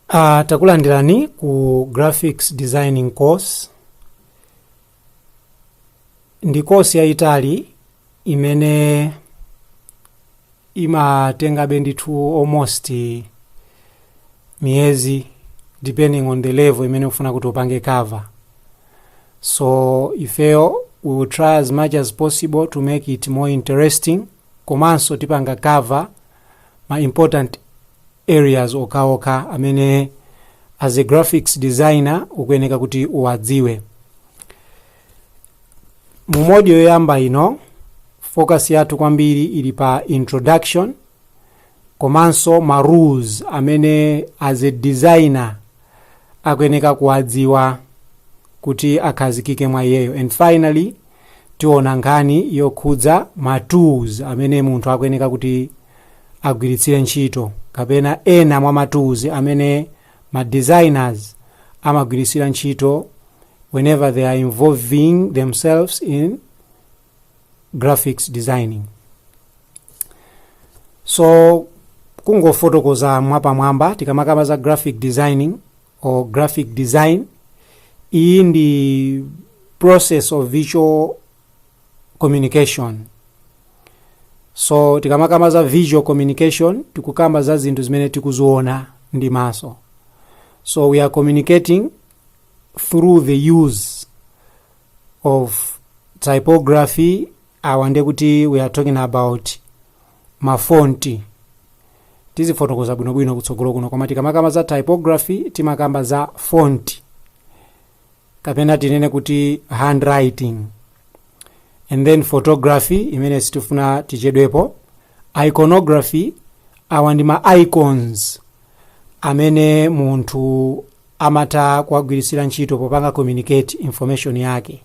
Uh, takulandirani ku graphics designing course ndi kosi yayitali imene imatengabe ndithu almost miyezi depending on the level imene ukufuna kuti upange cover so ifeyo we will try as much as possible to make it more interesting komanso tipanga cover ma important areas okhaokha amene as a graphics designer ukuyeneka kuti uwadziwe mu module yoyamba ino focus yathu kwambiri ili pa introduction komanso ma rules amene as a designer akuyeneka kuwadziwa kuti akhazikike mwa iyeyo and finally tiona nkhani yokhudza ma tools amene munthu akuyeneka kuti agwiritsire ntchito kapena ena mwa ma tools amene ma designers amagwiritsira ntchito whenever they are involving themselves in graphics designing. So kungofotokoza mwapamwamba tikamakamba za graphic designing or graphic design iyi ndi process of visual communication so tikamakamba za visual communication tikukamba za zinthu zimene tikuziona ndi maso so we are communicating through the use of typography awa ndekuti we are talking about ma font. Tizifotokoza bwinobwino kutsogolo kuno koma tikamakamba za typography timakamba za font kapena tinene kuti handwriting and then photography imene sitifuna tichedwepo iconography awa ndi ma icons amene munthu amatha kuwagwiritsira ntchito popanga communicate information yake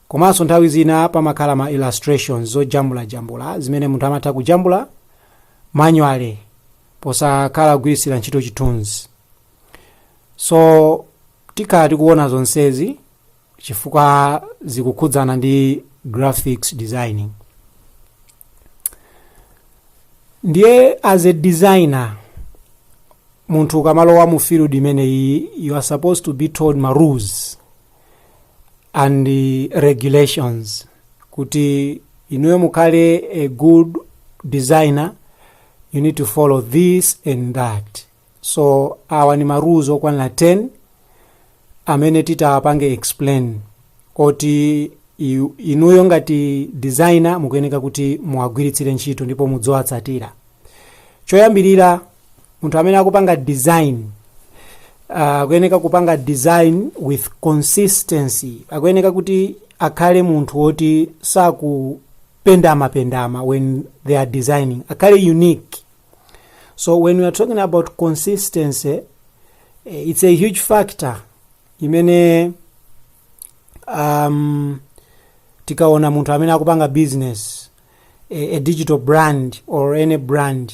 komanso nthawi zina pamakhala ma illustrations zojambulajambula zimene munthu amatha kujambula manually posakhala kugwiritsira ntchito chithunzi so tikhala tikuona zonsezi chifukwa zikukhudzana ndi graphics designing ndiye as a designer munthu akamalowa mu field imeneyi you are supposed to be told ma rules and eh, regulations kuti inuyo mukhale a good designer you need to follow this and that so awa ni marules okwanira 10 amene titapange explain oti i- inuyo ngati designer mukuyeneka kuti muwagwiritsire ntchito ndipo mudziwatsatira choyambirira munthu amene akupanga design akuyeneka uh, kupanga design with consistency akuyeneka kuti akhale munthu woti sakupendamapendama when they are designing akhale unique so when we are talking about consistency it's a huge factor imene um, tikaona munthu amene akupanga business a, a digital brand or any brand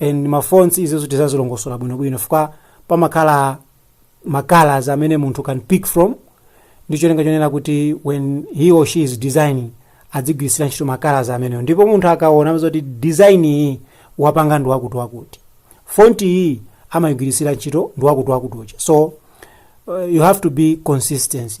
and ma fonts izo tikazilongosola bwinobwino chifukwa pamakhala ma colors amene munthu can pick from ndi cholinga chonena kuti when he or she is designing adzigwiritsira ntchito ma colors amenewo ndipo munthu akaona amadziwa kuti design iyi wapanga ndi wakuti wakuti font iyi amayigwiritsira ntchito ndi wakuti wakuti uja so uh, you have to be consistent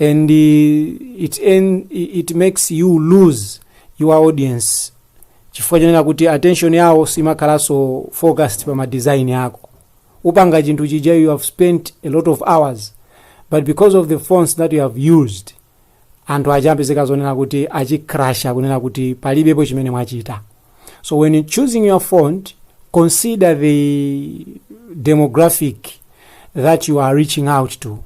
and uh, it, en, it makes you lose your audience chifukwa chonena kuti attention yawo simakhalanso focused pa madesign ako upanga chinthu chija you have spent a lot of hours but because of the fonts that you have used anthu adzapezeka zonena kuti achicrasha kunena kuti palibepo chimene mwachita so when choosing your font consider the demographic that you are reaching out to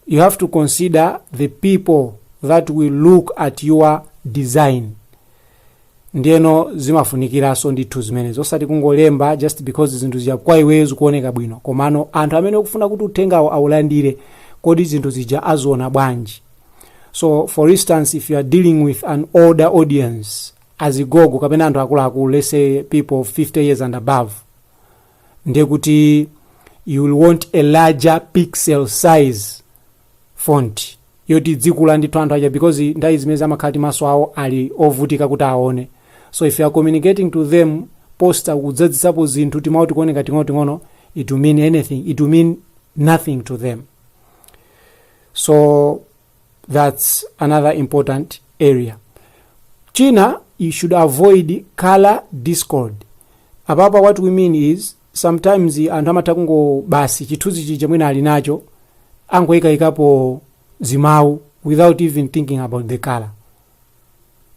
you have to consider the people that will look at your design ndiyeno zimafunikiranso ndithu zimenezo osati kungolemba just because zinthu zija kwa iweyo zikuoneka bwino komano anthu amene ukufuna kuti uthengawo aulandire kodi zinthu zija aziona bwanji so for instance if you are dealing with an older audience azigogo kapena anthu akuluakulu let's say people 50 years and above ndiye kuti you will want a larger pixel size font yoti idzikula ndithu anthu aja because nthawi zina amakhala kuti maso awo ali ovutika kuti aone so if you are communicating to them poster kudzadzitsapo zinthu timawu tikuoneka ting'onoting'ono it will mean anything it will mean nothing to them so that's another important area china you should avoid color discord apapa what we mean is sometimes anthu amatha kungo basi chithunzi chija mwina ali nacho angoyikayikapo zimawu without even thinking about the color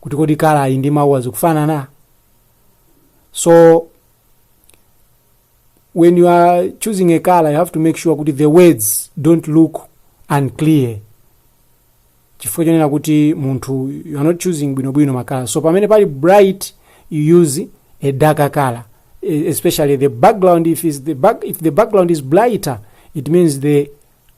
kuti kodi color yi ndi mawu azikufanana so when you are choosing a color you have to make sure kuti the words don't look unclear chifukwa chonena kuti munthu you are not choosing bwinobwino makala so pamene pali bright you use a darker color e- especially the background if, is the back, if the background is brighter it means the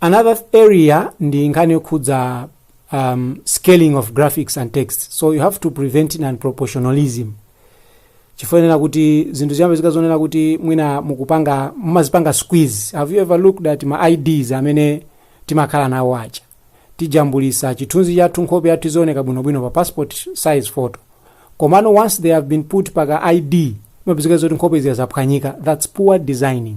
another area ndi nkhani yokhudza um, scaling of graphics and text so you have to prevent non proportionalism chifukwa choti zinthu ziyambe zikuonekera kuti mwina mukupanga mumazipanga squeeze have you ever looked at ma ids amene timakhala nawo aja tijambulisa chithunzi chathu nkhope yathu izioneka bwinobwino pa passport size photo komano once they have been put paka id imapezeka zoti nkhope zija zaphwanyika that's poor designing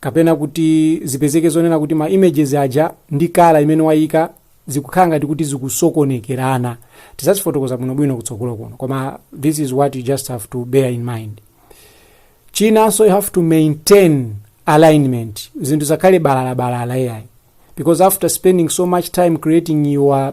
kapena kuti zipezeke zonena kuti ma images aja ndi kala imene wayika zikukhala ngati kuti zikusokonekerana tizazifotokoza bwinobwino kutsogolo kuno koma this is what you just have to bear in mind chinanso you have to maintain alignment zinthu zisakhale balalabalala ayi because after spending so much time creating your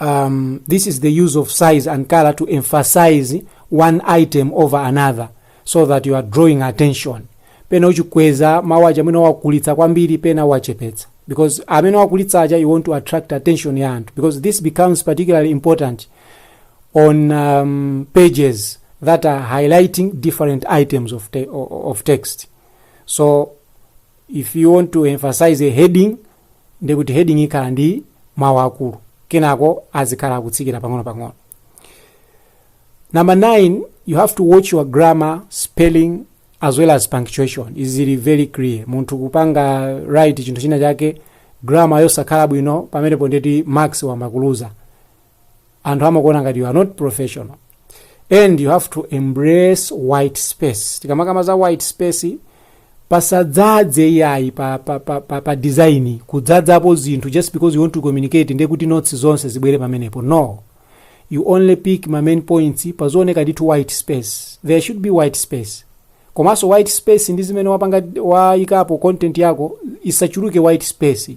um, this is the use of size and color to emphasize one item over another so that you are drawing attention pena uchikweza mawu aja amene wakulitsa kwambiri pena wachepetsa because amene wakulitsa aja you want to attract attention ya anthu because this becomes particularly important on um, pages that are highlighting different items of, te of text so if you want to emphasize a heading ndiye kuti heading ikhala ndi mawu akulu kenako azikhala akutsikira pang'ono-pang'ono number 9 you have to watch your grammar spelling as well as punctuation izi zili very clear munthu kupanga write chinthu china chake grammar yosakhala bwino pamenepo ndiye kuti marks wamakuluza anthu amakuona ngati you are not professional and you have to embrace white space tikamakamba za white space pasadzadze iyayi pa, pa, pa, pa, pa design kudzadzapo zinthu just because you want to communicate ndiye kuti notes zonse zibwere pamenepo no you only pick ma main points pazioneka ndithu white space there should be white space komanso white space ndi zimene wapanga wayikapo content yako isachuluke white space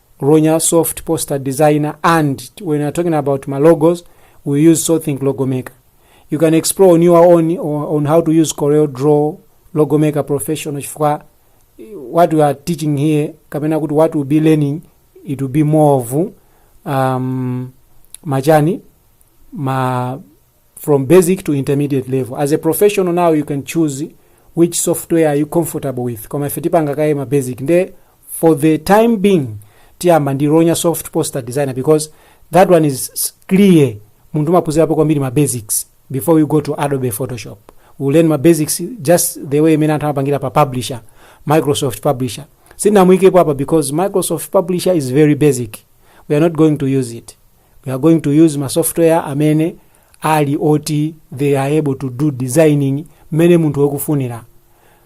Ronya soft poster designer and when you're talking about my logos, we use SoulThink Logo Maker. You can explore on your own o- on how to use Corel Draw Logo Maker Professional chifukwa eh, what we are teaching here kapena kuti what we'll be learning it will be more of um, machani ma from basic to intermediate level as a professional now you can choose which software are you comfortable with koma ife tipanga kaye ma basic nde for the time being tiyamba ndi ronya soft poster designer because that one is s- clear munthu umaphunzirapo kwambiri ma basics before you go to adobe photoshop you learn ma basics just the way imene anthu amapangira pa publisher microsoft publisher sindinamuyikepo apa because microsoft publisher is very basic we are not going to use it we are going to use ma software amene ali oti they are able to do designing mmene munthu wakufunira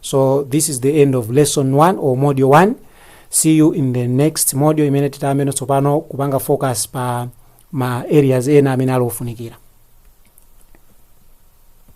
so this is the end of lesson 1 or module 1 see you in the next module imene titayambe no tsopano kupanga focus pa ma areas ena amene ali ofunikira